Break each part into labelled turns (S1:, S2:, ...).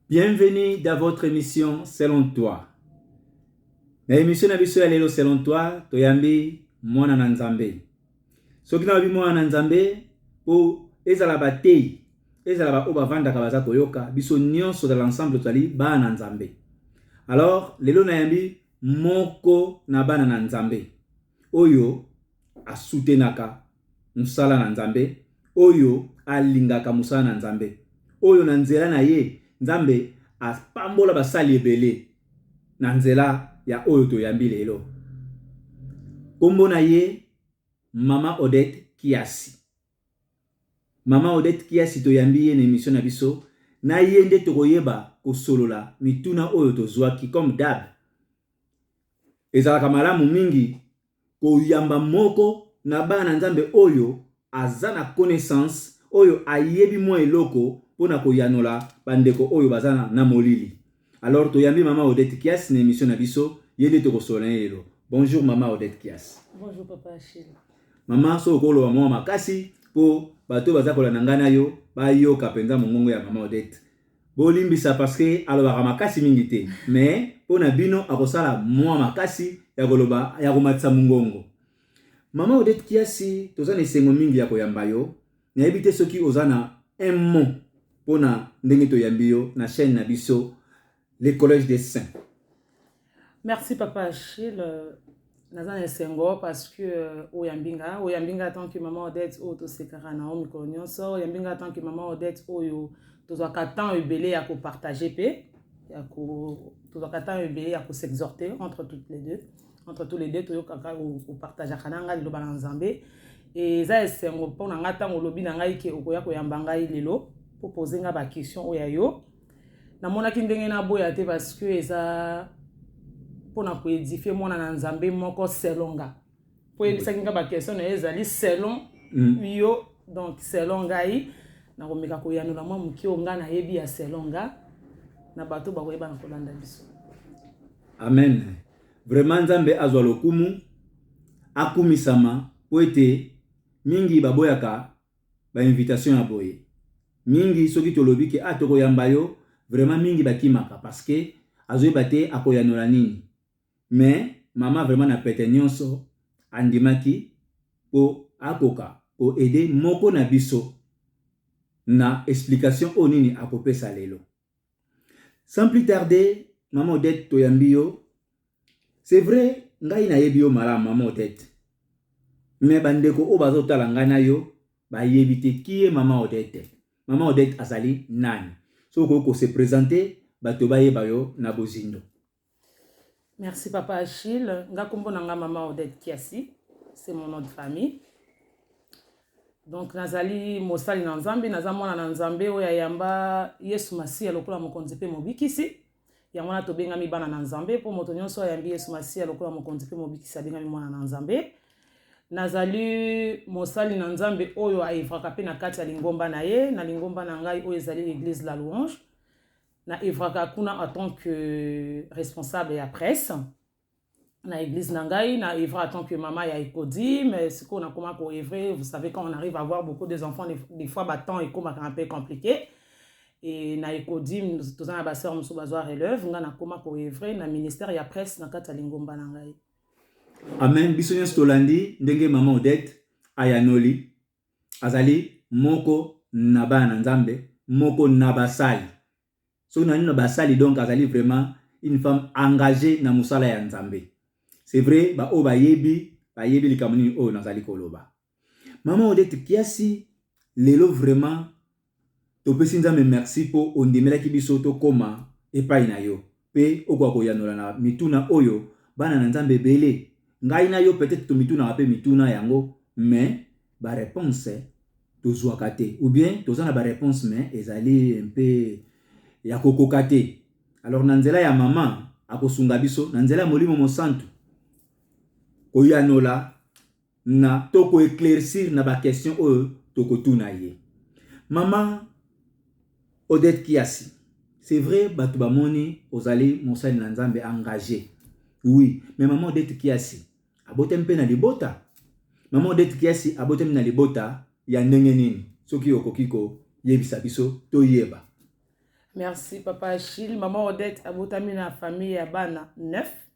S1: Bienvenue dans votre émission Selon toi. Na émission na biso ya lelo Selon toi, toyambi mwana na Nzambe. Soki na mwana na Nzambe, po ezala batei, ezala ba oyo bavandaka baza koyoka, biso nyonso dans l'ensemble tozali bana na Nzambe. Alors, lelo nayambi moko na bana na Nzambe. oyo asutenaka mosala na Nzambe, oyo alingaka mosala na Nzambe, oyo na nzela na ye Nzambe apambola basali ebele na nzela ya oyo toyambi lelo. Kombo na ye Mama Odette Kiasi. Mama Odette Kiasi toyambi ye na emission na biso, na ye nde tokoyeba kosolola mituna oyo tozwaki comme d'hab Ezalaka malamu mingi koyamba moko na bana na Nzambe oyo aza na connaissance, oyo ayebi mwa eloko mpo na koyanola ba ndeko oyo baza na molili. Alors toyambi maman Odette Kias na emission na biso, ye nde tokosolola na ye lelo. Bonjour maman Odette Kias. Bonjour papa
S2: Achille. Maman, soki
S1: okoloba mwa makasi mpo bato oyo baza kolanda ngai na yo bayoka mpenza mongongo ya maman Odette. Bolimbisa parce que alobaka makasi mingi te mais po na bino akosala mua makasi ya koloba ya komatisa mungongo. Maman Odette Kiasi toza na esengo mingi ya koyamba yo. Nayebi te soki oza na un mot po na ndenge toyambi yo na chaine na biso le collège des saints.
S2: Merci papa Achille. Euh, naza na esengo parce que euh, oyambi nga oyambi nga tant que maman odette oyo tosekaka na yo mikolo nyonso oyambi nga tant que maman odette oyo tozwaka temps ebele ya kopartage mpe ya ko tozwaka temps ebele ya kosexhorte entre toutes les deux entre tous les deux toyokaka opartageaka na ngai liloba na nzambe eza esengo mpo na ngai ntango olobi na ngai ke okoya koyamba ngai lelo mpo poze ngai baquestion oyo ya yo namonaki ndenge naboya te parce que eza mpo na koedifie mwana na nzambe moko selon nga mpo eyebisaki nga baquestion na ye ezali selon mm. yo donc selon ngai nakomeka koyanola mwa moke oyo ngai nayebi ya selon nga na bato bakoyeba na kolanda biso
S1: amen vraiment nzambe azwa lokumu akumisama mpo ete mingi baboyaka ba invitation ya boye mingi soki tolobi ke ah toko yamba yo vraiment mingi ba kimaka parce que azo yeba te ako yanola nini mais maman vraiment na pete nionso andimaki po akoka ko aider moko na biso na explication oyo nini ako pesa lelo. Sans plus tarder, maman Odette toyambi yo. C'est vrai, ngai nayebi yo malamu maman Odette. Mais bandeko oyo bazotala ngai na yo bayebi te qui est maman Odette. Maman Odette azali nani? Soki okoki ko se présenter, bato bayeba yo na bozindo.
S2: Merci papa Achille. Nga kombo na nga mama Odette Kiasi. C'est mon nom de famille. Donc nazali mosali na Nzambe, naza mwana na Nzambe oyo ayamba Yesu Masiya lokola mokonzi mpe mobikisi. Yango wana tobengami bana na Nzambe mpo moto nyonso ayambi Yesu Masiya lokola mokonzi mpe mobikisi abengami mwana na Nzambe. Nazali mosali na Nzambe oyo aevraka mpe na kati ya lingomba na ye, na lingomba na ngai oyo ezali l'Eglise la Louange. na evraka kuna en tant que responsable ya presse na église na ngai na evre en tant que mama ya ekodi mais sikoyo nakoma ko evre vous savez quand on arrive à avoir beaucoup des enfants des fois batemps ekomaka un peu compliqué e na ekodi toza na baseur mosusu bazwa relève ngai nakoma ko evre na ministère ya presse na kati ya lingomba na ngai amen
S1: biso nyonso tolandi ndenge mama odette ayanoli azali moko na bana na Nzambe, moko na basali. Soki na nino basali donc azali vraiment une femme engagee na mosala ya Nzambe. C'est vrai ba oyo bayebi bayebi likambo nini oyo nazali koloba. Maman Odette Kiasi lelo vraiment Topesi Nzambe mersi mpo ondimelaki biso tokoma epai na yo mpe okoka koyanola na mituna oyo bana na Nzambe ebele, ngai na yo peut-etre tomitunaka mpe mituna yango mais ba reponses tozuaka te ou bien toza na ba reponses mais ezali un peu ya kokoka te. Alors na nzela ya mama akosunga biso na nzela ya Molimo Mosantu koyanola na to ko eclaircir na ba question oyo tokotuna ye. Mama Odette Kiasi, c'est vrai bato bamoni ozali mosali na Nzambe engage. Oui, mais mama Odette Kiasi abotami mpe na libota. Mama Odette Kiasi abotami na libota ya ndenge nini? Soki okoki koyebisa biso toyeba. Merci
S2: papa Achille. Mama Odette abotami na famille ya bana 9.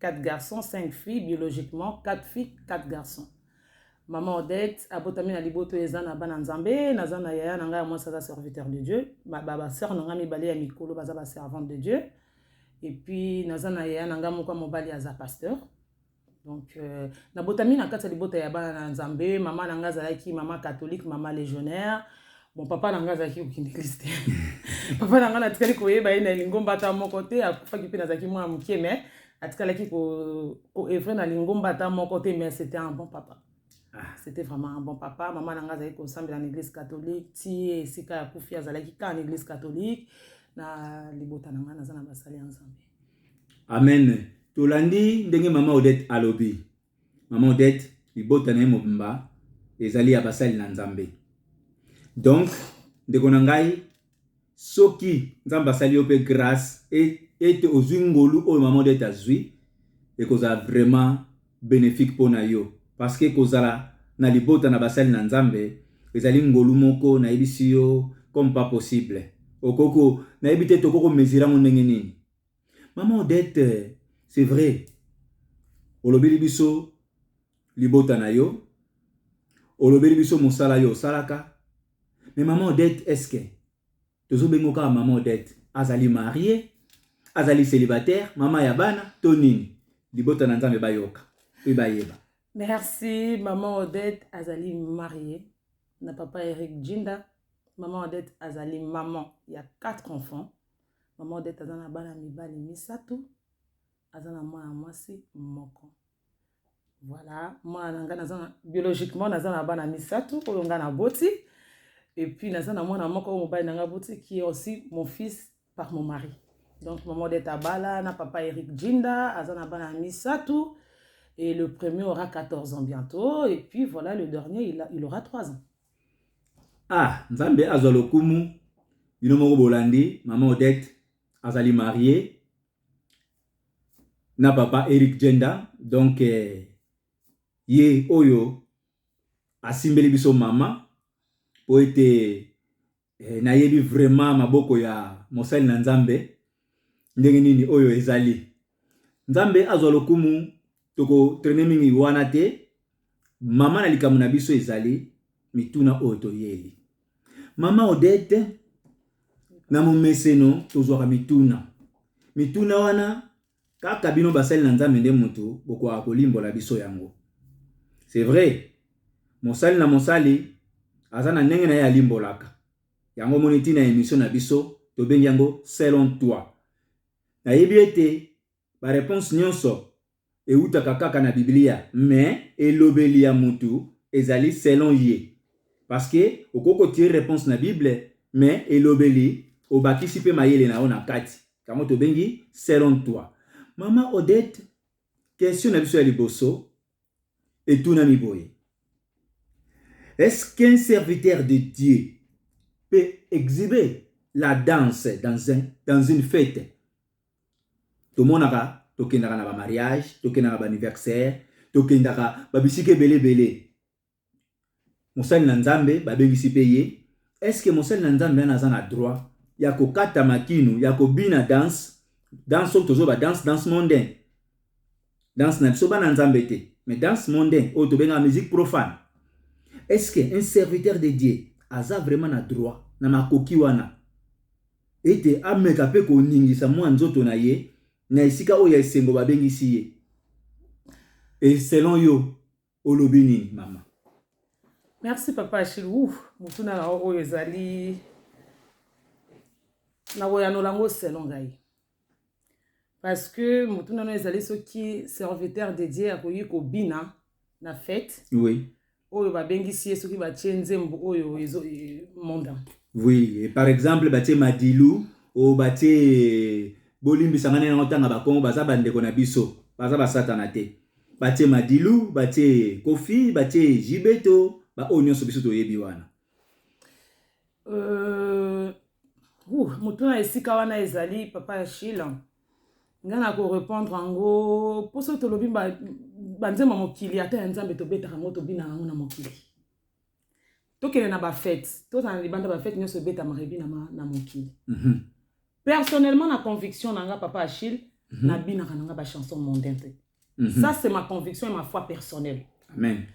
S2: 4 garçons 5 filles biologiquement 4 filles 4 garçons maman Odette abotami na liboto eza na bana nzambe naza na yaya na ngai ya mwasi aza serviteur de Dieu ba ba, ba sœur na ngai mibale ya mikolo baza ba servante de Dieu et puis naza na yaya na ngai moko ya mobali aza pasteur donc euh, nabotami na kati ya libota ya bana na nzambe mama na ngai azalaki mama catholique mama légionnaire Bon, papa na ngai azalaki kokindekisi te papa na ngai natikali koyeba ye na lingomba ata moko te akufaki mpe nazalaki mwana moke mais atikalaki koevre na lingomba ata moko te mais c'était un bon papa ah. c'était vraiment un bon papa mama na ngai azalaki kosambela na église catholique ti esika ya kufi azalaki kaka na église catholique na libota na ngai naza na basali ya nzambe amen
S1: tolandi ndenge mama odette alobi Maman Odette, libota na ye mobimba ezali ya basali na Nzambe. Donc, ndeko na ngai, soki Nzambe asali yo mpe grâce ete ozwi ngolu oyo Maman Odette azwi, ekozala vraiment bénéfique mpo na yo. Parce que kozala na libota na basali na Nzambe ezali ngolu moko nayebisi yo comme pas possible. Okoki, nayebi te tokoki komezira yango ndenge nini. Maman Odette, c'est vrai. Olobeli biso libota na yo. Olobeli biso mosala yo osalaka. Mais maman Odette, est-ce que tozo bengo kaka maman Odette azali mariée, azali célibataire, maman ya bana to nini? Libota na Nzambe bayoka pe bayeba. Merci
S2: maman Odette azali mariée na papa Eric Jinda. Maman Odette azali maman ya quatre enfants. Mama Odette aza na bana mibali misato, aza na mwana mwasi moko. Voilà, mwana na ngai naza na biologiquement naza na bana misato oyo ngai naboti et puis naza na mwana moko oyo mobali na ngai aboti qui est aussi mon fils par mon mari. Donc maman Odette abala na papa Eric Jinda, aza na bana misato et le premier aura 14 ans bientôt et puis voilà le dernier il, a, il aura 3 ans. Ah,
S1: Nzambe azwa lokumu. Bino moko bolandi, mama Odette azali marie na papa Eric Jenda. Donc eh, ye oyo asimbeli biso mama mpo ete eh, nayebi vraiment maboko ya mosali na nzambe ndenge nini oyo ezali nzambe azwa lokumu tokotrene mingi wana te mama na likambo na biso ezali mituna oyo toyeli mama odete na momeseno tozwaka mituna mituna wana Kaka bino basali na Nzambe nde mutu bokoka kolimbola biso yango. C'est vrai, mosali na mosali aza na ndenge na ye alimbolaka. Yango omoni ti na emission na biso tobengi yango selon toi. Nayebi ete ba reponse nionso ewutaka kaka na Biblia, mais elobeli ya mutu ezali selon ye. Parce que okoki ko tirer reponse na Bible, mais elobeli obakisi pe mayele na yo na kati. yango tobengi selon toi mama odette question na biso ya liboso etunami boye est-ce qu'un serviteur de dieu peut exhiber la danse dans, un, dans une fête tomonaka tokendaka na bamariage tokendaka baanniversaire tokendaka babisika ebele ebele mosali na Nzambe, babengisi pe ye, est ce que mosali na Nzambe wana aza na droit ya kokata makinu, ya kobina danse, danse oyo tozo ba danse, danse mondain, danse na biso bana Nzambe te, mais danse mondain oyo tobengaka musique profane, est ce que un serviteur de Dieu aza vraiment na droit na makoki wana ete ameka pe koningisa mwa nzoto na ye na esika oyo ya esengo babengisi ye? Et selon yo olobi nini mama merci
S2: papa achille ouf motuna na oyo ezali nakoyanola yango selon ngai parce que motuna no ezali soki serviteur de dieu akoki kobina na fete oui. oyo
S1: babengisi
S2: ye soki batie nzembo oyo ezo e, monda oui
S1: par exemple batie madilu oyo batie bolimbisa ngai nango ntanga bakongo baza bandeko na biso baza basatana te Batie madilu batie kofi batie JB to ba oyo nyonso biso toyebi wana euh,
S2: uh, moto na esika wana ezali papa ya shila nga na korepondre yango mpo soki tolobi banzembo ba mokili ata ya nzambe tobetaka yango tobina yango na mokili tokende na bafete tozala na libanda bafete nyonso ebetama rebi na, ma, na mokili mm -hmm. personnellement na conviction na nga papa achille mm -hmm. nabinaka na nga bachanson mondain te mm -hmm. ça c'est ma conviction et ma foi personnelle amen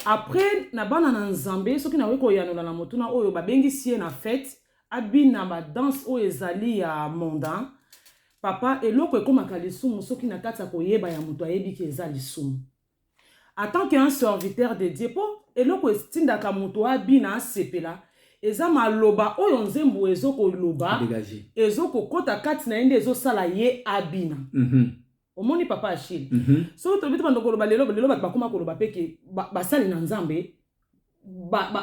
S1: après
S2: na bana na nzambe soki nakoki koyanola na motuna oyo babengisi ye na fete abina badanse oyo ezali ya mondain papa eloko ekomaka lisumu soki na kati ya koyeba ya moto ayebi ke eza lisumu En tant que un serviteur de Dieu, po eloko etindaka mutu abina asepela eza maloba oyo nzembu ezo ko loba, ezo ko kota kati na ye nde ezo sala ye abina. Mm -hmm. Omoni papa Achille? Mm -hmm. Soki tolobi tobanda koloba lelo, lelo batu bakoma koloba pe ke basali na Nzambe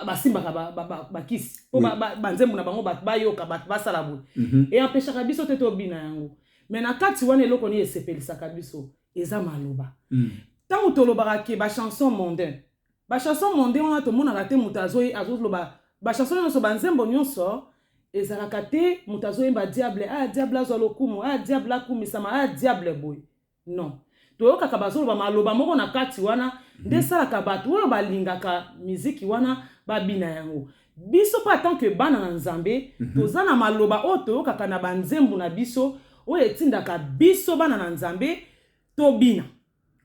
S2: basimbaka bakisi mpo banzembo na bango bato bayoka bato basala boye mhm. eampeshaka biso te tobina yango me na kati wana eloko nini esepelisaka biso eza maloba mm. ntango tolobaka ke bachanson mondain bachanson mondain wana tomonaka te moto azoloba bachanson nyonso banzembo nyonso ezalaka te moto azoyemba diable a ah, diable azwa lokumu a ah, diable akumisama a ah, diable boye Non. Toyokaka bazoloba maloba moko na kati wana nde esalaka mhm. bato oyo balingaka miziki wana babina yango. Biso mpe atant que bana na Nzambe mhm. toza na maloba oyo toyokaka na banzembo na biso oyo etindaka biso bana na Nzambe tobina.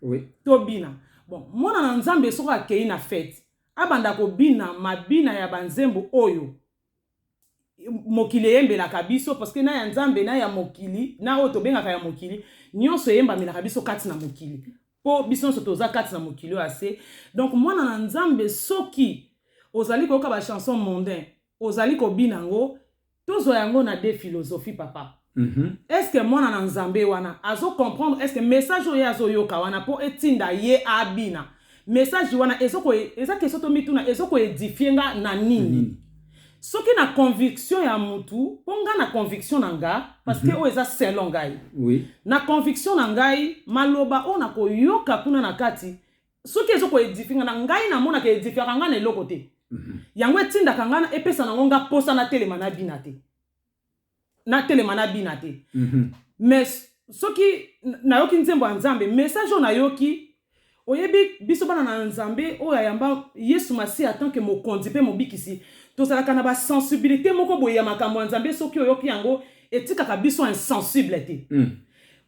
S2: Oui.
S1: Tobina.
S2: Bon, mwana na Nzambe soki akei na fete abanda kobina mabina ya banzembo oyo mokili eyembelaka biso parceke na ya nzambe na ya mokili na oyo tobengaka ya mokili nyonso eyembamelaka biso kati na mokili mpo biso nyonso toza kati na mokili oyo ase donk mwana na nzambe soki ozali koyoka bachanson mondain ozali kobina yango tozwa yango na de philosophie papa Mm -hmm. Est ce que mwana na Nzambe wana azo comprendre est ce que message oyo azo yoka wana po etinda ye abina message wana ezo ko eza question to mituna ezo ko edifier nga na nini mm -hmm. soki na conviction ya mutu po nga na conviction na nga parce que mm -hmm. oyo eza selon ngai oui. na
S1: conviction na
S2: ngai maloba oyo na koyoka kuna na kati soki ezo ko edifier nga na ngai na mona ke edifier nga na eloko te mm -hmm. yango etindaka nga epesa nango nga posa na telema na bina te natelema nabina te mais soki nayoki nzembo ya nzambe message oyo nayoki oyebi biso bana na nzambe oyo ayamba yesu masiya tanke mokonzi mpe mobikisi tozalaka na basensibilité moko boye ya makambo ya nzambe soki oyoki yango etikaka biso insensible te mm.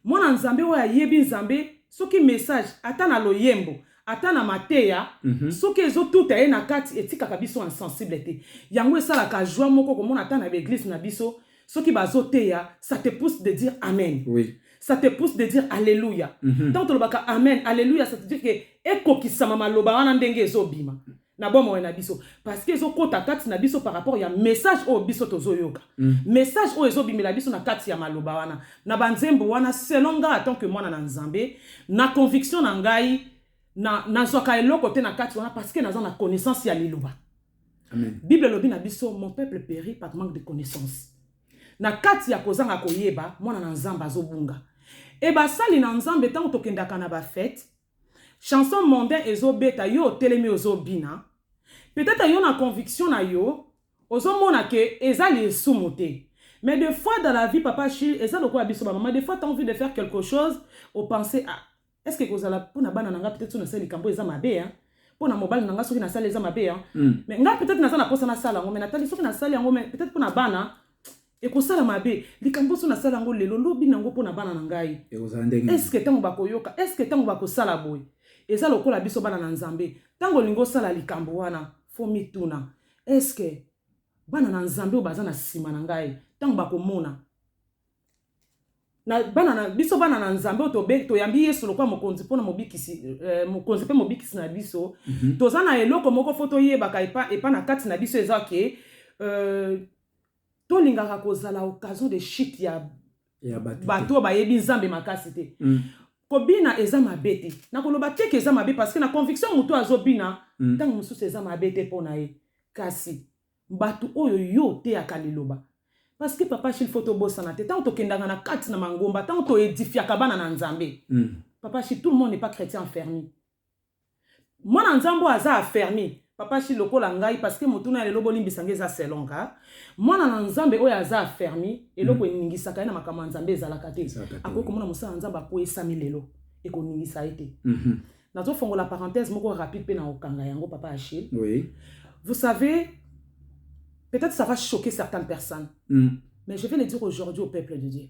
S2: mwana nzambe oyo ayebi nzambe soki message ata na loyembo ata na mateya mm -hmm. soki ezotuta ye na kati etikaka biso insensible te yango esalaka joie moko komona ata na baeglise na biso soki bazoteya ça te pousse de dire amen oui. ça te
S1: pousse de
S2: dire alleluia mm -hmm. ntango tolobaka amen alleluia ça te dire ke ekokisama maloba wana ndenge ezobima na bomoi na biso parce que ezokota kati na biso par rapport ya message oyo biso tozoyoka mm. message oyo ezobimela biso na kati ya maloba wana na banzembo wana selon ngai atant que mwana na nzambe na conviction na ngai nazwaka na eloko te na kati wana parce que naza na connaissance ya liloba Amen.
S1: bible elobi na biso
S2: mon peuple péri par manque de connaissance na kati ya kozanga koyeba mwana na nzambe azobunga e basali na nzambe ntango tokendaka na bafete chanson mondain ezo beta yo otelemi ozo bina peut etre yo na conviction na yo ozo mona que eza lisumu te mais de fois dans la vie papa chill eza lokola biso ba maman de fois t'as envie de faire quelque chose au penser à ah, est ce que kozala pona bana na nga peut etre so na sali kambo eza mabe hein mpo na mobali na ngai soki nasali eza mabe ya hmm. mais ngai peut-être naza na mposa nasala yango mais natali soki nasali yango mais peut-être mpo na bana Ekosala mabe. Likambo oso nasala yango lelo, lobi nango mpo na bana na ngai. Ekozala ndenge nini? Eske tango bakoyoka? Eske tango bakosala boye? Eza lokola biso bana na Nzambe. Tango olingi osala likambo wana, faut omituna, eske bana na Nzambe oyo baza na sima na ngai, tango bakomona, na bana na biso bana na Nzambe oyo toyambi Yesu lokola mokonzi mpo na mobikisi eh, mokonzi mpe mobikisi na biso mm -hmm. toza na eloko moko fo toyebaka epa, epa na kati na biso eza ke euh, tolingaka kozala occasion de chute ya ya bato te. bato oyo bayebi nzambe makasi te Mm, kobina eza mabe te nakoloba te ke eza mabe parce que na conviction moto oyo azobina mm, ntango mosusu eza mabe te mpo na ye kasi bato oyo yo oteyaka liloba parce que papa shil fo tobosana te ntango tokendaka na kati na mangomba ntango toedifiaka bana na nzambe mm, papa shil tout le monde n'est pas chrétien enfermi Mwana nzambe oyo aza affermi papa shi lokola ngai parce que motuna ya lelo bolimbisa ngai eza selon nga mwana na nzambe oyo aza affermi eloko hmm. eningisaka ye na makambo ya nzambe ezalaka te akoki komona mosala ya nzambe akweyisami lelo ekoningisa ye te mhm. nazofongola parenthèse moko rapide mpe na okanga yango papa achille oui. vous
S1: savez
S2: peut-être ça va choquer certaines personnes mm. mais je vais le dire aujourd'hui au peuple de dieu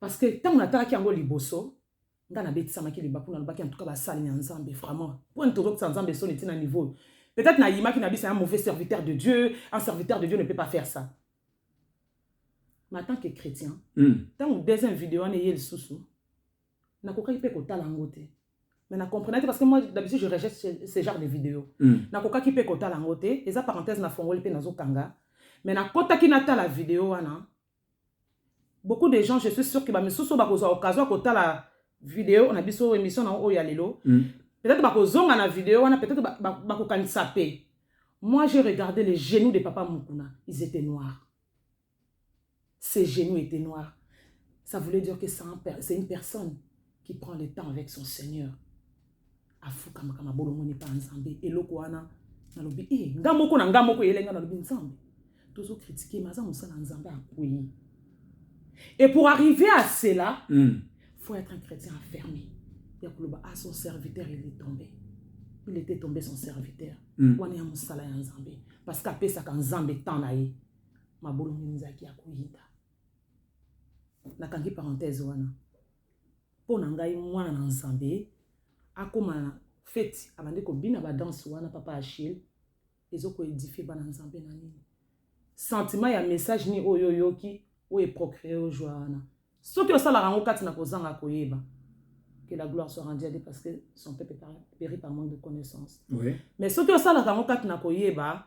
S2: Parce que tango natalaki yango liboso nga nabetisamaki libaku nalobaki en tout cas basali na nzambe vraiment mpo nini tozokisa nzambe soni ntina niveau peut-être nayimaki na bisa un mauvais serviteur de dieu un serviteur de dieu ne peut pas faire ça mais en tant que chrétien ntango hmm. deuxième video wana eye lisusu nakokaki mpe kotala yango te mais na comprenaki parce que moi d'habitude je rejette ce, ce genre de vidéo hmm. nakokaki mpe kotala yango te eza parenthèse nafongoli mpe nazokanga mais nakotaki natala video wana beaucoup de gens je suis sûr que ba misusu bakozwa occasion ya kotala video na biso emission na oyo ya lelo mm. peut-être bakozonga na video wana peut-être bakokanisa ba, ba pe moi j'ai regardé les genoux de papa mukuna ils étaient noirs ses genoux étaient noirs ça voulait dire que c'est un, une personne qui prend le temps avec son seigneur afukamaka mabolongoni mpa nzambe eloko wana nalobi e eh, nga moko na nga moko eyele nga nalobi nzambe tozo kritike ma aza mosala nzambe akwei et pour arriver à cela mm. faut être un chrétien enfermé ya koloba a ah, son serviteur il est tombé il était tombé son serviteur mm. wana ya mosala ya nzambe parce que apesaka nzambe temps na ye mabolongoni ezalaki ya koyinda nakangi parenthèse wana mpo na ngai mwana na nzambe akoma na feti abandi kobina badanse wana papa achille ezokoedifie bana nzambe na nini sentiment ya message nini oyo oyoki oyo eprocure ojwa wana soki osalaka yango kati na kozanga koyeba que la gloire soit rendue à Dieu parce que son peuple périt par manque de connaissance. Oui. Mais ce que ça là dans mon cas n'a pas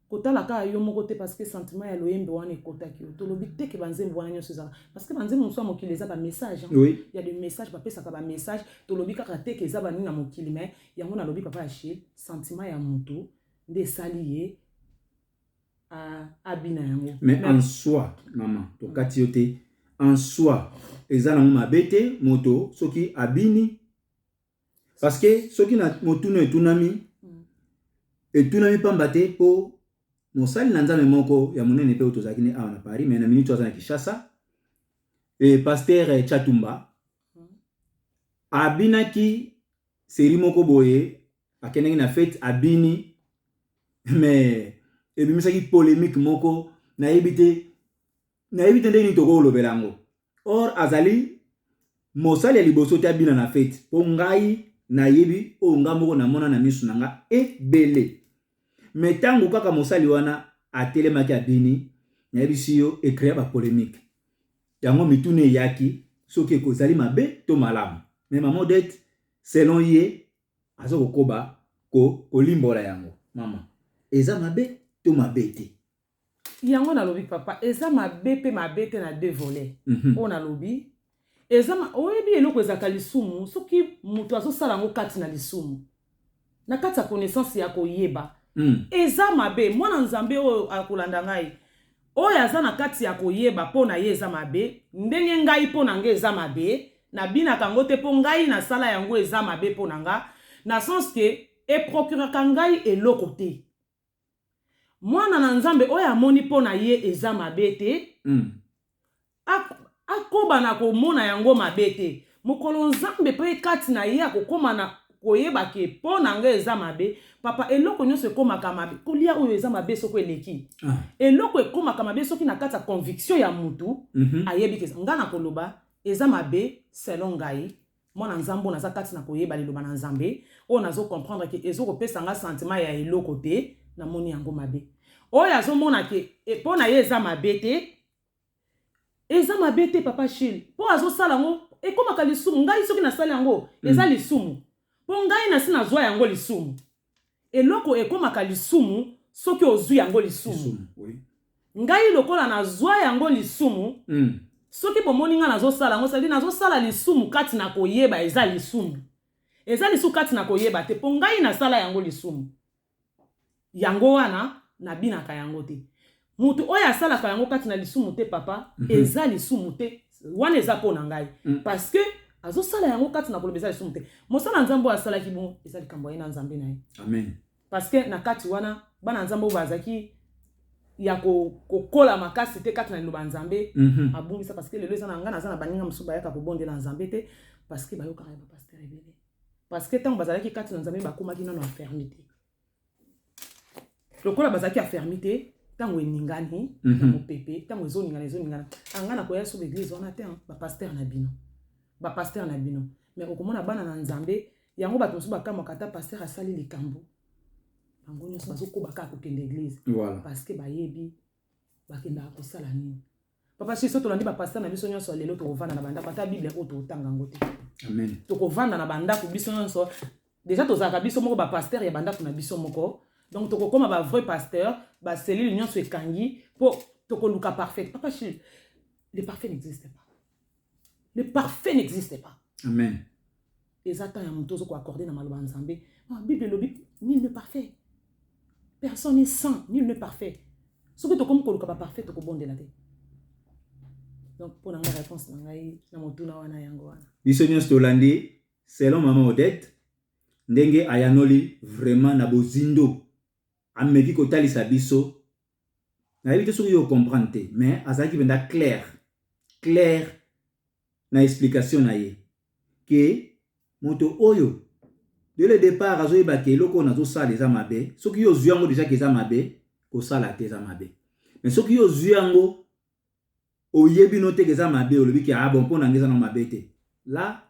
S2: Kotala kaka yo moko te parce que sentiment ya loyembe wana ekotaki yo. Tolobi te que ba nzembo wana nionso ezalaka parce que ba nzembo mosusu ya mokili eza ba messages hein. Oui. Il y a des messages ba pesaka ba messages. Tolobi kaka te que eza ba nini na mokili mais yango nalobi papa ya chez sentiment ya mutu nde esali ye a abina yango. Mais en soi
S1: maman tokati yo te en soi eza nango mabe te moto soki abini parce que soki na motuna etunami mm. etunami pamba te mpo mosali na nzambe moko ya monene mpe oyo tozalaki ne awa na paris mai na miniti aza na kinshasa e paster chatumba mm. abinaki seri moko boye akendaki na fete abini mais ebimisaki polemique moko nayebi te nayebi te ndenge nini tokolobela yango or azali mosali ya liboso te abina na feti mpo ngai nayebi oyo ngai moko namona na miso na ngai ebele me ntango kaka mosali wana atelemaki abini nayebisi yo ekrea bapolemike yango mituna eyaki soki ekozali mabe to malamu me mama odete selon ye aza kokoba ko, kolimbola yango mama eza mabe to mabe te yango
S2: nalobi papa eza mabe pe mabe te na deux volet mm -hmm. oyo nalobi eza ma... oyebi eloko ezalaka lisumu soki moto azosala yango kati na lisumu na kati ya connaissance ya koyeba mm. eza mabe mwana nzambe oyo akolanda ngai oyo aza na kati ya koyeba mpo na ye eza mabe ndenge ngai mpo na ngai eza mabe nabinaka yango te mpo ngai nasala yango eza mabe mpo na nga na sens ke eprocuraka ngai eloko te Mwana na Nzambe oyo amoni mpo na ye eza mabe te, akoba na komona yango mabe te. Mokolo Nzambe mpe kati na ye akokoma na koyeba ke mpo na nga eza mabe, papa, eloko nyonso ekomaka mabe. Kolia oyo eza mabe soko eleki. Ah. Eloko ekomaka mabe soki na kati ya conviction ya mutu, mm -hmm. ayebi ke nga na koloba eza mabe selon ngai, Mwana nzambo naza kati na koyeba liloba na nzambe oyo nazo comprendre ke ezo kopesa nga sentiment ya eloko te na moni yango mabe oyo azo mona ke e, po na ye eza mabe te eza mabe te papa shil po azo sala ngo ekomaka lisumu ngai soki nasali yango eza mm. lisumu po ngai nasi nazwa yango lisumu Eloko ekomaka lisumu soki ozwi yango lisumu. Ngai lokola nazwa yango lisumu, soki bomoni ngai nazosala yango, cest nazosala lisumu kati na koyeba, eza lisumu. Eza lisumu kati na koyeba te, mpo ngai nasala yango lisumu. Yango wana nabinaka yango te. Mutu oyo asalaka yango kati na lisumu te papa eza lisumu te wana eza pona ngai parce que azosala yango kati na koloba eza lisumu te mosala nzambe oyo asalaki bongo eza likambo ya ye na nzambe na ye amen parce que
S1: na kati
S2: wana bana nzambe oyo bazalaki ya kokola ko makasi te kati na liloba ya nzambe mm -hmm. abungisa parce que lelo eza na ngai naza na baninga mosusu bayaka kobondela nzambe te parce que bayokaka ya bapastere ebele parce que ntango bazalaki kati na nzambe bakomaki nano enferme te lokola bazalaki afermi te ntango eningani na mhm. mopepe ntango ezoningana ezoningana anga ah, nakoya so baeglise wana te bapaster na bino bapaster na bino mais okomona bana na nzambe yango bato mosusu bakamwaka ata paster asali likambo bango nyonso bazokoba kaka kokende eglise parce que bayebi bakendaka kosala nini Papa Chiso, tolandi ba pasta na biso nyonso ya lelo tokovanda na bandako ata Biblia oyo totanga yango te. Amen. Tokovanda
S1: na bandako
S2: biso nyonso. Deja tozalaka biso moko ba pasteur ya bandako na biso moko. Donc tokokoma ba vrai pasteur, ba cellule nyonso ekangi po tokoluka parfait. Papa Chiso, le parfait n'existe pas. le parfait n'existe pas amen
S1: eza temps
S2: ya moto ozo koaccorde na maloba ya nzambe ah, bible elobi nul ne parfait personne est saint nul ne parfait soki tokomi koluka baparfait tokobondela te donc mpo na ngai réponse na ngai na motuna wana yango wana biso nyonso tolandi
S1: selon mama odette ndenge ayanoli vraiment na bozindo ameki kotalisa biso nayebi te soki yo comprendre te mais azalaki mpenza claire claire na explication na ye ke moto oyo de le départ azoyeba ke eloko oyo nazosala eza mabe soki yo ozwi yango deja ke eza mabe kosala te eza mabe mais soki yo ozwi yango oyebi no te eza mabe olobi ke ah bon mpo na ngai eza na mabe te la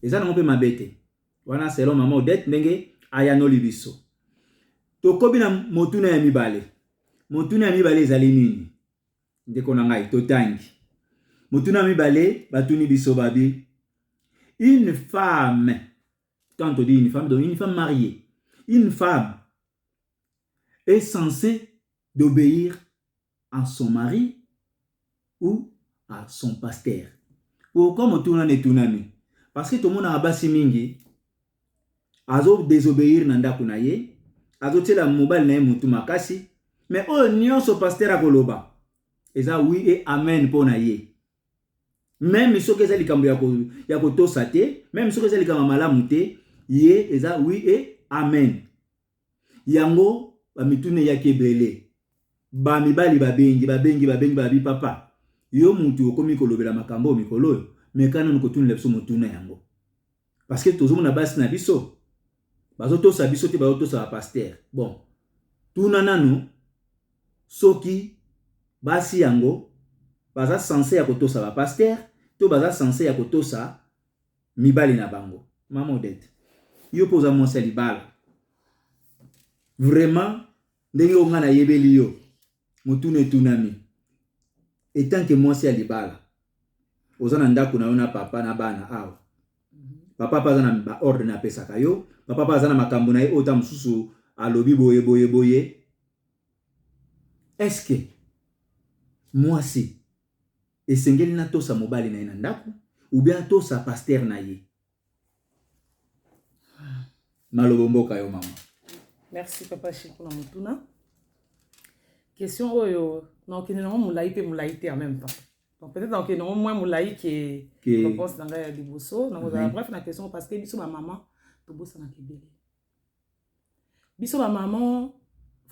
S1: eza nango mpe mabe te wana selon mama odette ndenge ayanoli biso tokobi na motuna ya mibale motuna ya mibale ezali nini ndeko na ngai totangi motuna ya mibale batuni biso babi une femme quand on dit une femme donc une femme mariée une femme est censée d'obéir à son mari ou à son pasteur pourquoi motuna na etunami parce que tomonaka basi mingi azo désobéir na ndako na ye azotyela mobali na ye motu makasi me oyo nyonso pasteur akoloba eza wi e amen mpo na ye meme soki eza likambo ya kotosa te meme soki eza likambo ya malamu te ye eza wi e amen Yango bamituna eyaki ebele. Ba mibali babengi, babengi, babengi, babi papa, yo mutu okomi kolobela makambo mikolo oyo, meka nanu kotunela biso motuna yango. Parce que tozomona basi na biso, bazotosa biso te, bazotosa ba pasteur. Bon, tuna nanu soki basi yango baza sense ya kotosa ba pasteur to baza sense ya kotosa mibali na bango mama odete yo mpe oza mwasi ya libala vraiment ndenge oyo ngai nayebeli yo motuna etunami etanke mwasi ya libala oza na ndako na yo na papa na bana awa papa mpe aza na baordre na apesaka yo papa mpe aza na makambo na ye oyo ta mosusu alobi boye boye boye eske mwasi Esengeli na tosa mobali na ye na ndaku ou bien atosa pasteur na ye. Malobo mboka yo mama. Merci papa
S2: Chico na motuna. Question oyo nakokende nango molai mpe molai te en même temps. Donc peut-être nakokende nango moins molai ke réponse na ngai ya liboso. Nakozala bref na question parce que biso ba mama tobosanaka ebele. biso ba maman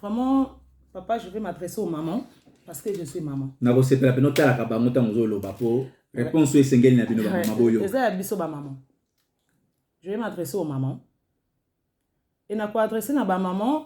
S2: vraiment papa je vais m'adresser aux mamans parce que je suis maman nakosepela mpe notalaka
S1: bango ntango ozoloba mpo réponse oyo esengeli na bino bamama boyo eza ya biso bamama
S2: je vais m'adresser aux mamans e nakoadresse na bamama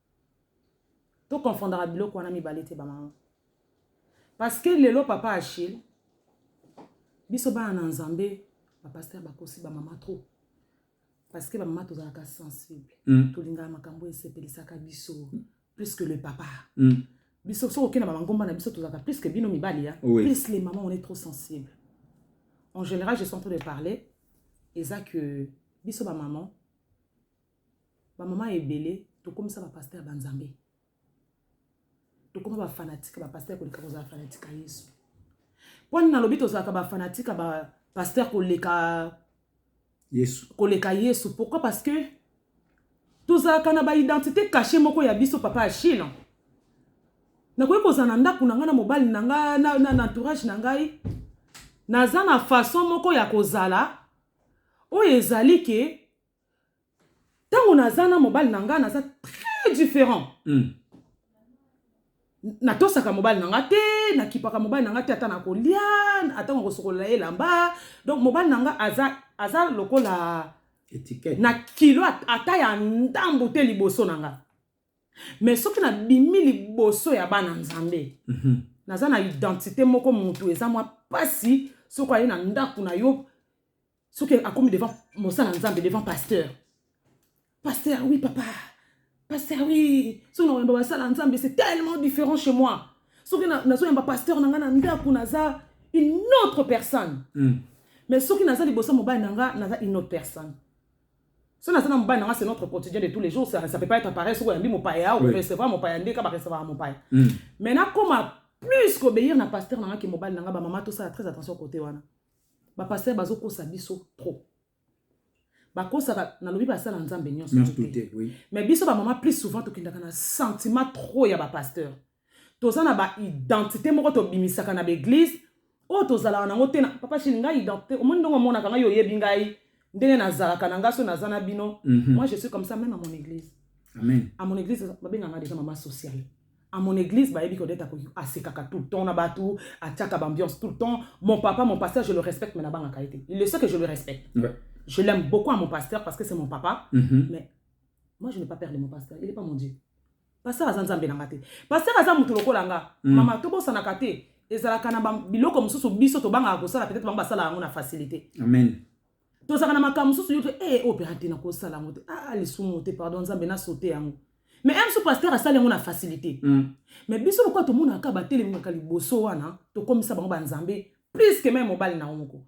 S2: To confondaka biloko wana mibale te ba mama. Parce que lelo papa Achille biso bana na Nzambe ba pasteur bakosi ba mama trop. Parce que ba mama tozalaka sensible. Mm. Tolingaka makambo esepelisaka biso plus que le papa. Mm. Biso soki okenda ba mangomba na biso tozalaka plus que bino mibali ya. Oui. Plus les mamans on est trop sensible. En général je suis en train de parler eza que biso ba maman Ba maman ebele tokomisa ba pasteur ba nzambe. Tokoma ba fanatique ba pasteur koleka kozala fanatique ya Yesu. Mpo nini nalobi tozalaka ba fanatique ya ba pasteur koleka Yesu. Koleka Yesu. Pourquoi? Parce que tozalaka na ba identité cachée moko ya biso papa Achille. Nakoki kozala na ndako na ngai na mobali na ngai na, na, na entourage na ngai naza na façon moko ya kozala oyo ezali ke Tango naza na mobali na nga naza très différent. Mm. natosaka mobali na nga te nakipaka mobali na nga te ata nakolia atango akosokolola ye elamba donc mobali na nga aza, aza lokola Etiquette. na kilo ata ya ndambu te liboso na nga mais soki nabimi liboso ya bana nzambe mm -hmm. naza na identité moko motu eza mwa mpasi soki aye na ndako na yo soki akomi devant mosala nzambe devant pasteur pasteur oui papa pasteur oui soki na oyamba basala nzambe c'est tellement différent chez moi soki nazoyamba pasteur na ngai na ndako naza une autre personne mm. mais soki naza liboso mobali na ngai naza une autre personne soki naza na mobali na ngai c'est notre quotidien de tous les jours ça, ça peut pas être pareil soki oyambi mopaya okorecevra mopaya nde ka barecevra mopaya mm. mais nakoma plus kobeyir na pasteur na ngai ke mobali na ngai bamama tosala très attention kote wana Ba pasteur bazo kosa biso trop. bakosaka nalobi basala nzambe nyonso te oui. mais biso bamama plus souvent tokendaka na sentiment trop ya bapasteur toza na baidentité moko tobimisaka na baeglise oyo tozalaka nango te na papa shini ngai identité omoni ndongo omonaka ngai oyebi ngai ndenge nazalaka na ngai so naza na bino mhm. moi je suis comme ça même à mon église amen à mon église babenga ngai déjà mama sociale à mon église bayebi que odeta asekaka tout le temps na bato atiaka bambiance tout le temps mon papa mon pasteur je le respecte mais nabangaka ye te il le sait que je le respecte ouais. je l'aime beaucoup à mon pasteur parce que c'est mon papa mm -hmm. mais moi je n'ai pas peur de mon pasteur il est pas mon dieu pasteur aza nzambe na nga te pasteur aza moto lokola nga mm. mama tobosanaka te ezalaka na biloko mosusu biso tobangaka kosala peut-être bango basala yango na facilité amen tozalaka na makambo mosusu yo te e eh, opera oh, te nakosala yango te a ah, ah, lisumu te pardon nzambe nasote yango mais un mosusu pasteur asali yango na facilité mm. mais biso lokola tomonaka batelemaka liboso wana tokomisa bango banzambe plus que meme mobali na yango moko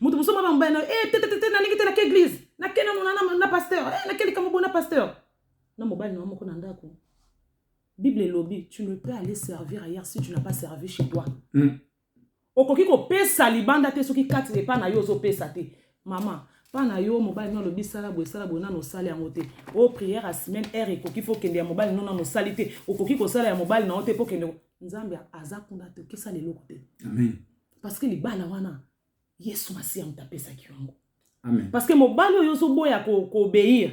S2: moto mosusu mama mobali na yo eh, te te te nalingi te nake eglise nake nano na, na pasteur eh, nake likambo bo na pasteur na mobali na yo moko na ndako bible elobi tu ne peux aller servir ailleurs si tu n'as pas servi chez toi mm. okoki kopesa libanda te soki kati na epa na yo ozopesa te mama mpa na yo mobali no alobi sala boye sala boye nano osali yango te o oh, prière ya semaine heure ekoki fo okende ya mobali no nano osali te okoki kosala ya mobali na yo te mpo okende nzambe aza kuna te okesala eloko te amen parce que libala wana yesu masiya moto apesaki yo yango parce que mobali oyo ozoboya koobéir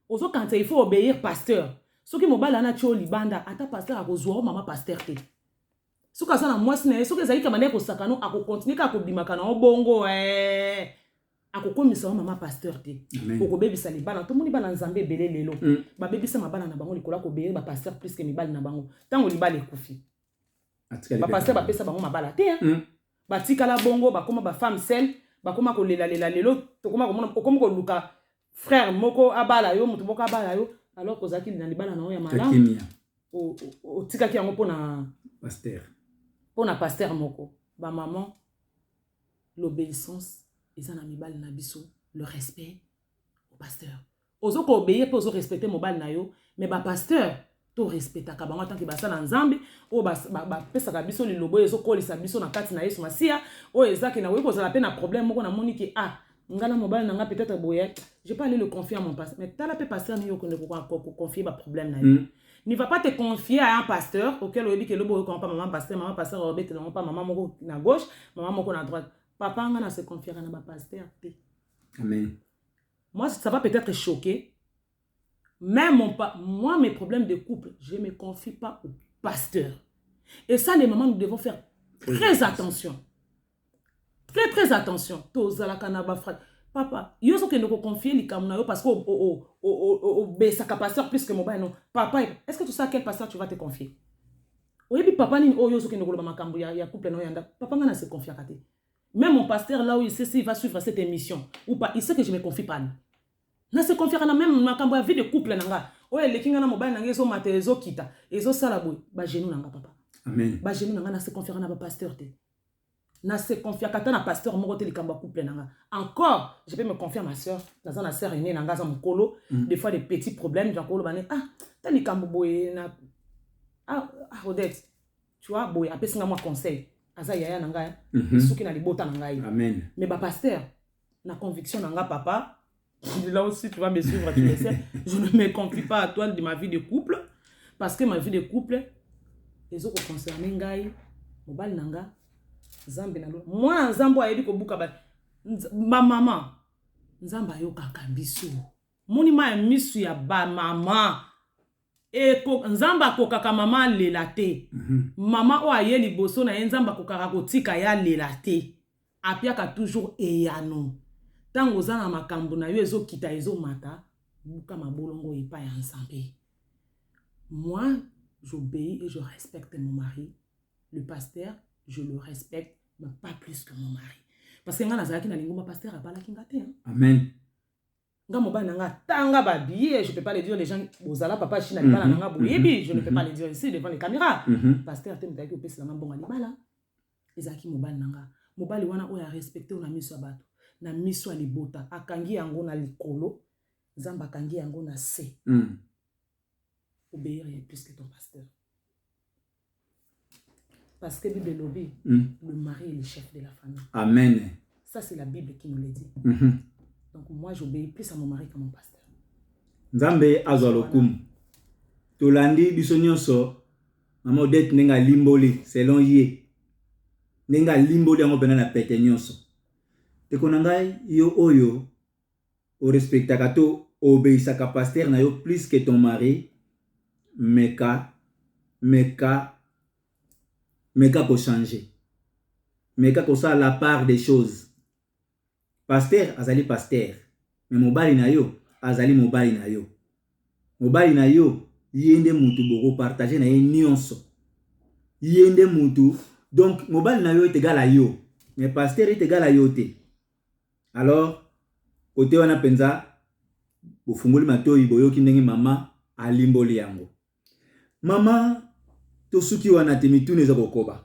S2: ko ozokanisa il faut obéir pasteur soki mobali wana atyo libanda ata pasteur akozwa o mama pasteur te soki aza na mwasi na ye soki ezalaki kamanda ekosakano akokontinue kaka kobimaka na yo bongo eh. akokomisa yo mama pasteur te okobebisa libala tomoni bana nzambe ebele lelo mm. babebisa mabala na bango likolo ya kobeyeba pasteur plus ke mibali na bango ntango libala ekufi bapasteur bapesa bango mabala te hmm. batikala bongo bakoma bafemme sel bakoma kolelalela lelo tokoma komona okomi koluka frère moko abala yo moto moko abala yo alors kozalaki na libala na yo ya malamu otikaki yango mpona paster mpona paster moko bamaman l'obéissance eza na mibali na biso le respect au pasteur Ozo ko obeir pe ozo respecter mobali na yo mais ba pasteurs to respectaka bango tant que basala nzambe oyo bapesaka biso lilobo oyo ezokolisa biso na kati na yesu masiya oyo eza ke nakoki kozala mpe na problème moko namoni ke ah ngai na mobali na ngai peut-être boye je pas aller le confier à mon pasteur mais tala mpe pasteur nini okende koconfier baproblème na ye mm. ne va pas te confier à un pasteur auquel oyebi ke lobo oyoka mpa mama pasteur mama pasteur obetela ngo mpa mama moko na gauche mama moko na droite papa ngai na se confiaka na bapasteur te amen Moi ça va peut-être choquer mais mon pa moi mes problèmes de couple je me confie pas au pasteur et ça les mamans nous devons faire très, très attention très très attention tozalaka na ba frère papa yo ozokende koconfie likambo na yo parce que obesaka pasteur plus que mobali non papa est ce que tu sais à quel pasteur tu vas te confier oyebi papa nini oyo ozokende koloba makambo ya, ya couple na yo ya ndako papa ngai na se confiaka te Meme mon pasteur là où il sait s'il va suivre cette émission ou pas, il sait que je me confie pas. Na se confiaka na même makambo ya vie de couple na nga. Oyo eleki nga na mobali na nga ezo mata ezo kita, ezo sala boye, ba genoux na nga papa. Amen. Ba genoux na nga
S1: na se confiaka
S2: na ba pasteur te. Na se confiaka ata na pasteur moko te likambo ya couple na nga. Encore, je peux me confier à ma sœur, naza na sœur aînée na nga za mukolo, mm. des fois des petits problèmes, genre ko loba ne ah, ta likambo boye na ah, ah Odette tu vois boye apesi ngai mwa conseil aza yaya na ngai mhm. esuki na libota na ngai mais bapaster na conviction na ngai papa là aussi tu vas me suivre tu le sais je ne me confie pas à toi de ma vie de couple parce que ma vie de couple ezokoconcerne ngai mobali na ngai nzambe na lona mwana nzambe oyo ayebi kobuka bamama nzambe ayokaka biso moni ma ya misu ya bamama Eko, Nzambe akokaka mama alela te. Mama oyo aye liboso na ye, Nzambe akokaka kotika ye alela te. Apiaka toujours eyano. Tango oza na makambo na yo ezo kita ezo mata, luka mabolongo epai ya Nzambe. Moi, j'obeis et je respecte mon mari. Le pasteur, je le respecte, mais pas plus que mon mari. Parce que nga nazalaki na lingomba, pasteur abalaki nga te hein. Amen.
S1: nga
S2: mobali na nga atanga ba billets je peux pas le dire les gens bozala papa china libala mhm. na nga boyebi mhm. je ne peux pas mhm. le dire ici devant les caméras pasteur te moto ayaki kopesela nga mbongo ya libala ezalaki mobali na nga mobali wana oyo arespecte oyo na miso ya bato na miso ya libota akangi yango na likolo nzambe akangi yango na se obéir plus que ton pasteur Parce que Bible lobby, mm. le mari est le chef de la famille. Amen.
S1: Ça, c'est la Bible
S2: qui nous le dit. Mm -hmm. Donc, moi, j'obéis plus à mon mari qu'à mon pasteur. Nzambe
S1: azwa lokumu. Tolandi biso nyonso mama Odette ndenge alimboli selon ye. Ndenge alimboli yango mpena na pete nyonso. Ndeko na ngai yo oyo o respectaka to o obeissaka pasteur na yo plus que ton mari meka meka meka ko changer meka kosala la part des choses pasteur azali pasteur mais mobali na yo azali mobali na yo mobali na yo ye nde mutu boko partager na ye nionso ye nde mutu donc mobali na yo est egal à yo mais pasteur est egal à yo te Alors kote wana penza bofungoli matoyi boyoki ndenge mama alimboli yango. Mama tosuki wana te mituna eza kokoba.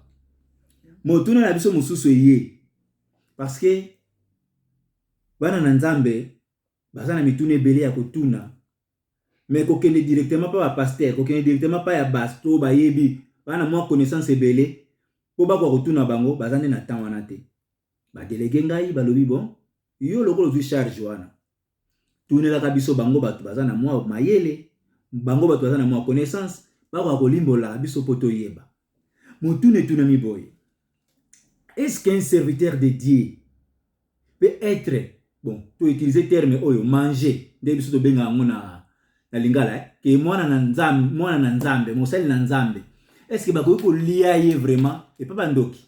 S1: Motuna na biso mosusu eye parce que bana na Nzambe baza na mituna ebele ya kotuna mais kokende directement pa ba pasteur kokende directement pa ya base to bayebi bana mwa connaissance ebele po bakoka kotuna bango baza nde na temps wana te. ba delege ngai balobi bon yo lokola ozwi charge wana tunelaka biso bango bato baza na mwa mayele bango bato baza na mwa connaissance bakoka kolimbolaka biso mpo toyeba motuna etunami boye est-ce qu'un serviteur de dieu peut être bon toutilize terme oyo mange nde biso tobenga yango na na lingala eh? ke mwana na nzambe mwana na nzambe mosali na nzambe est-ce que bakoki kolia ye vraiment epa bandoki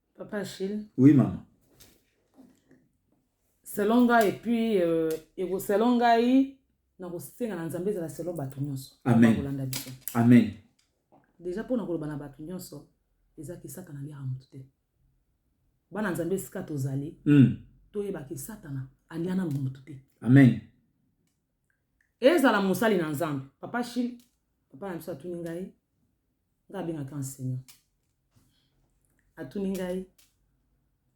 S1: Papa
S2: Achille. Oui,
S1: maman.
S2: Selon ngai, et puis, euh, et selon ngai, nakosenga na nzambe ezala selon bato nyonso kolanda biso
S1: amen deja
S2: mpo na koloba na bato nyonso eza kisaka na liaka moto te bana nzambe esika tozali mm. toyebaki satana alia nano moto te amen
S1: ezala
S2: mosali na nzambe papa shil papa na biso atuni ngai ngai abengaki enseignant atuni ngai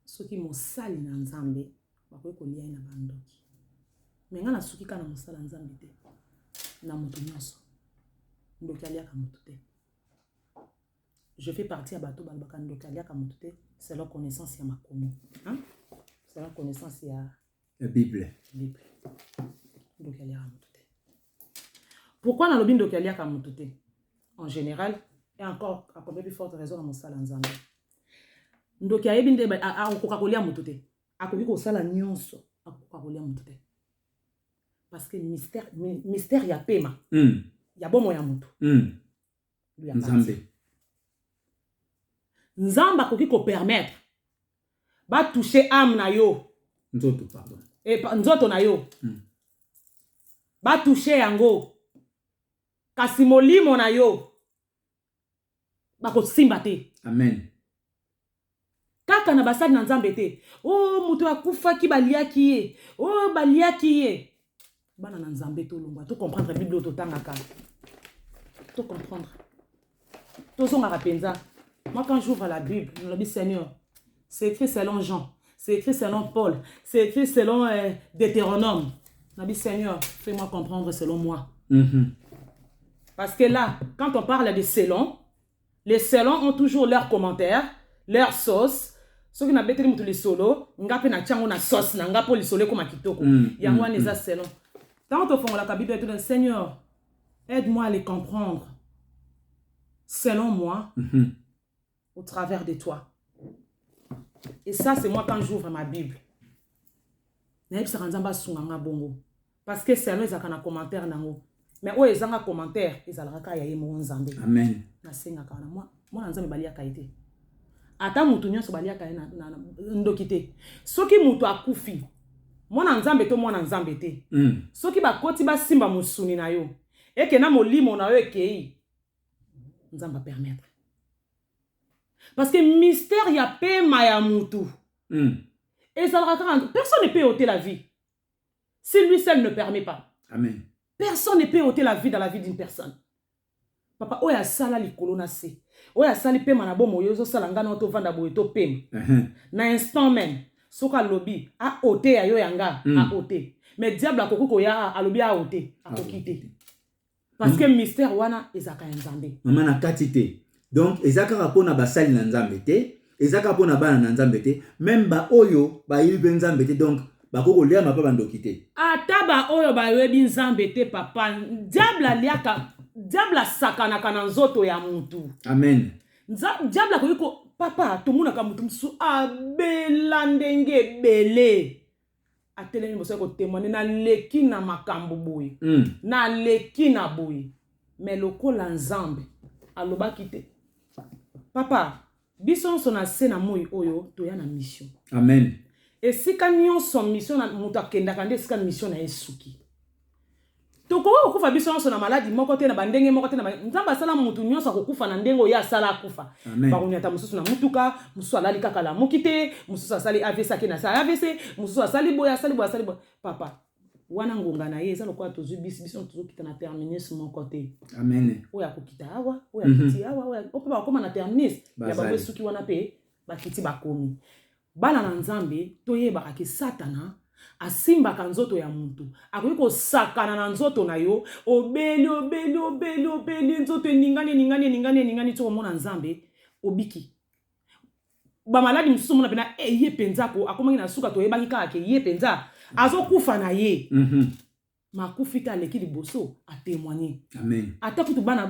S2: soki mosali na nzambe bakoki kolia ye na bandoki me ngai nasuki kaka na mosala nzambe te na moto nyonso ndoki aliaka moto te je fais partie ya bato balobaka ndoki aliaka moto te selon connaissance ya makomi selon connaissance ya ya bible
S1: bible
S2: ndoki aliaka moto te pourkui nalobi ndoki aliaka moto te en général et encore à combien plus forte raison na mosala nzambe ndoki ayebi nde akokoka kolia moto te akoki kosala nyonso akokoka kolia moto te parce que mystère, mystère ya pema mm. ya bomo ya moto mm. nzambe nzambe akoki kopermettre batouche ame na yo nzoto pardon e, nzoto na yo mm. batouche yango kasi molimo na yo bakosimba te amen Kaka na basali na Nzambe te. Oh, moto akufaki, baliaki ye. Oh, baliaki ye. Bana na Nzambe tolongwa, to comprendre Bible oyo totangaka. To comprendre. Tozongaka mpenza. Moi, quand j'ouvre la Bible, je me dis, Seigneur, c'est écrit selon Jean, c'est écrit selon Paul, c'est écrit selon euh, Deutéronome. Je me dis, Seigneur, fais-moi comprendre selon moi. Mm -hmm. Parce que là, quand on parle de selon, Les selon ont toujours leur commentaire, leur sauce, soki na beteli mutu lisolo nga pe na tiango na sauce na nga po lisolo ekoma kitoko mm, yango wana mm, eza mm. selon tango tofongolaka biblia tuna seigneur aide moi à les comprendre selon moi mm -hmm. au travers de toi et ça c'est moi quand j'ouvre ma bible nayebisaka nzambe asunga nga bongo Parce que salon ezalaka na commentaire nango. Mais oyo ezanga commentaire ezalaka kaka ya ye moko Nzambe. Amen. Nasengaka
S1: wana mwa
S2: mwana Nzambe baliaka ye te. Ata mutu nyonso baliaka ye na, na, na ndoki te. Soki mutu akufi mwana Nzambe to mwana Nzambe te. Mm. Soki bakoti basimba mosuni na yo eke na molimo na yo ekei Nzambe apermettre. Parce que mystère ya pema ya mutu mm. ezalaka kaka personne ne peut ôter la vie Si lui seul ne permet pas. Amen. Personne
S1: ne peut
S2: ôter la vie dans la vie d'une personne. Papa, oyo asala likolo na se. Oyo asali pema na bomo yo sala ngana oto vanda boye to pema. Uh -huh. Na instant même, soka lobi a ôter ya yo ya nga, mm. a ôter. Mais diable akoki koya alobi a ôter, akoki te. parce que mystère wana ezalaka ya nzambe mama na kati te
S1: donc eza kaka mpo na basali na nzambe te eza kaka mpo na bana na nzambe te meme baoyo bayebi mpe nzambe te donc bakoki kolia mapa bandoki te ata baoyo
S2: bayebi nzambe te papa diable aliaka diable asakanaka na nzoto ya motu amen
S1: diable
S2: akoki ko papa tomonaka motu mosusu abela ndenge ebele atelemi liboso ya kotemwane naleki na makambo boye mm. naleki na boye me lokola nzambe alobaki te papa biso nyonso na se na moi oyo toya na mission amen
S1: esika
S2: nyonso mission moto akendaka nde esika mission na ye esuki Tokoki kokufa biso nyonso na maladi moko te, na bandenge moko te. Nzambe asala moto nyonso akokufa na ndenge oyo asala akufa. Bakonyata mosusu na motuka, mosusu alali kaka lamuki te, mosusu asali AVC ake na sa AVC, mosusu asali boye, asali boye, asali boye. Papa, wana ngonga na ye eza lokola tozwi bisi, biso tozokita na terminus moko te. Amen. Oyo
S1: akokita awa,
S2: oyo akiti mhm. awa, oyo mpe bakoma na terminus ya bango esuki wana mpe bakiti bakomi. Bana na Nzambe, toyebaka ke satana asimbaka nzoto ya mutu. Akoki kosakana na nzoto na yo, obeli, obeli, obeli, obeli, nzoto eningani, eningani, eningani, eningani, soki omona Nzambe, obiki. Ba maladi mosusu omona pena, eh, ye penza ko, akomaki na suka, toyebaki kaka ke ye penza azokufa na ye. Mm -hmm. makufi te aleki liboso atemoigne ata kutu
S1: bana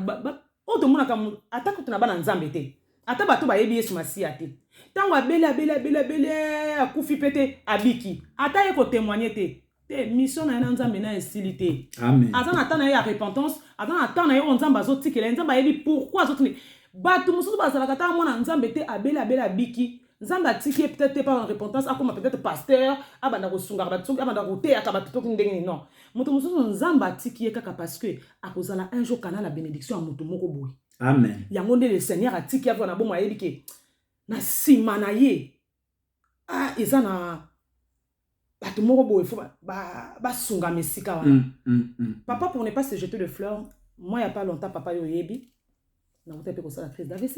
S2: oyo tomonaka ata kutu na bana nzambe te ata bato bayebi yesu masiya te ntango abeli abeli abeli abeli eh, akufi mpe te abiki ata ye kotemoigne te te mission na ye na nzambe na esili te aza na temps na
S1: ye ya
S2: repentance aza na temps na ye oyo nzambe azotikela ye nzambe ayebi pourkui azotikela bato mosusu bazalaka ntango mwana nzambe te abeli abeli abiki nzambe atiki ye peut-être te mpona repentance akoma peut-être pasteur abanda kosungaka bato soki abanda koteyaka bato toki ndenge nini non moto mosusu nzambe atiki ye kaka parce que akozala un jour kana na bénédiction ya moto moko boye amen yango nde
S1: le seigneur
S2: atiki ye na bomo ayebi ke na nsima na ye ah, eza na bato moko boye fo basungama esika wana mm, mm, mm. papa pour ne pas se jeter de fleur moi ya pas longtemps papa yo oyebi nauta mpe kosala crise d'avc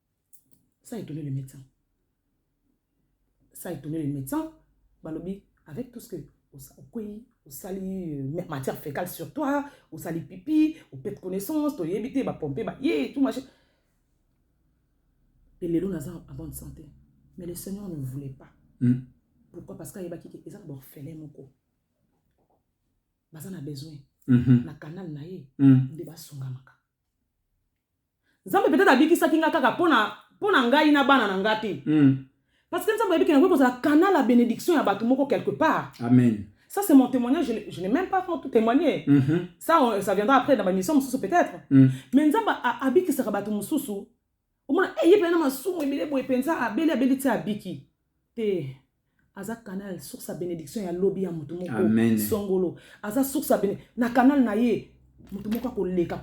S2: ça étonne le médecin ça étonne le médecin balobi avec tout ce que okwei osali euh, matière fécale sur toi osali pipi opete connaissance toyebi te bapompe baye tout machin mpe lelo naza en bonne santé mais le seigneur ne voulait pas mm. pourquoi parce qu'ayebaki ke eza na baorphelin moko baza na besoin mm -hmm. na canal na ye mm. nde basungamaka Nzambe peut-être abikisaki nga kaka pona pona ngai na bana na nga te. Mm. Parce que Nzambe abiki na ko za canal la bénédiction ya batu moko quelque part. Amen. Ça c'est
S1: mon témoignage,
S2: je, je n'ai même pas encore tout témoigné. Mm -hmm. Ça on, ça viendra après dans ma mission mususu peut-être. Mm. Mais Nzambe abikisaka batu mususu. Omona eh ye pena masumu ebele boye penza abeli abeli ti abiki. Te aza canal source ya bénédiction ya lobi ya mutu moko songolo aza source ya na canal na ye mutu moko akoleka